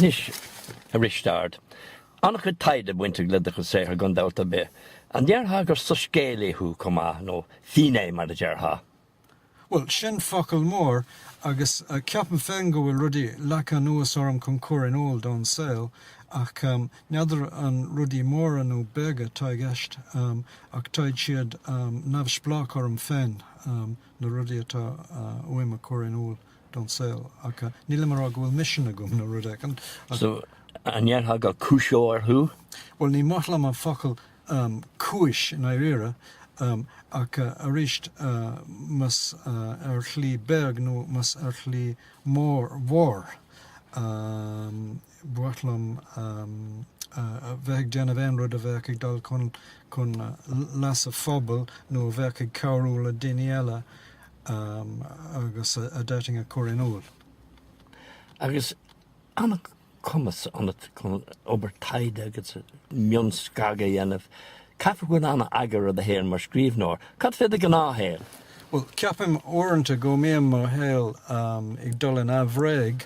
Anois, a Risteard. An-chuid taighde bainteach le do chuid saothair, gan dabht ar bith. An ndéarfá gur soiscéalaí thú chomh maith, nó finné mar a déarfá? Bhuel, sin focal mór, agus ceapaim féin go bhfuil rudaí leagtha anuas orm chun cur in iúl don saol, ach n'fheadar an rudaí móra nó beaga atá i gceist, ach táid siad neamhspleách orm féin, na rudaí atá uaim a chur in iúl. don saol ach. Nílim a rá go bhfuil misean agam nó rud éigin ach. So, an ndéarfá gur cúiseoir thú? Bhuel, ní maith liom an focal cúis i ndáiríre ach arís más ar shlí beag nó más ar shlí mhór, mhór, ba mhaith liom a bheith ag déanamh aon rud a bheadh ag dul chun leasa phobail nó a bheadh ag cabhrú le daoine eile agus a d'fhéadfainn a chur in iúl. Agus an-chumas ionat chun obair taighde agus mionscagadh a dhéanamh, caithfidh go bhfuil an-eagar ar do shaol mar scríbhneoir. Cad fé do ghnáthshaol? Bhuel, ceapaim uaireanta go mbíonn mo shaol ag dul in aimhréidh.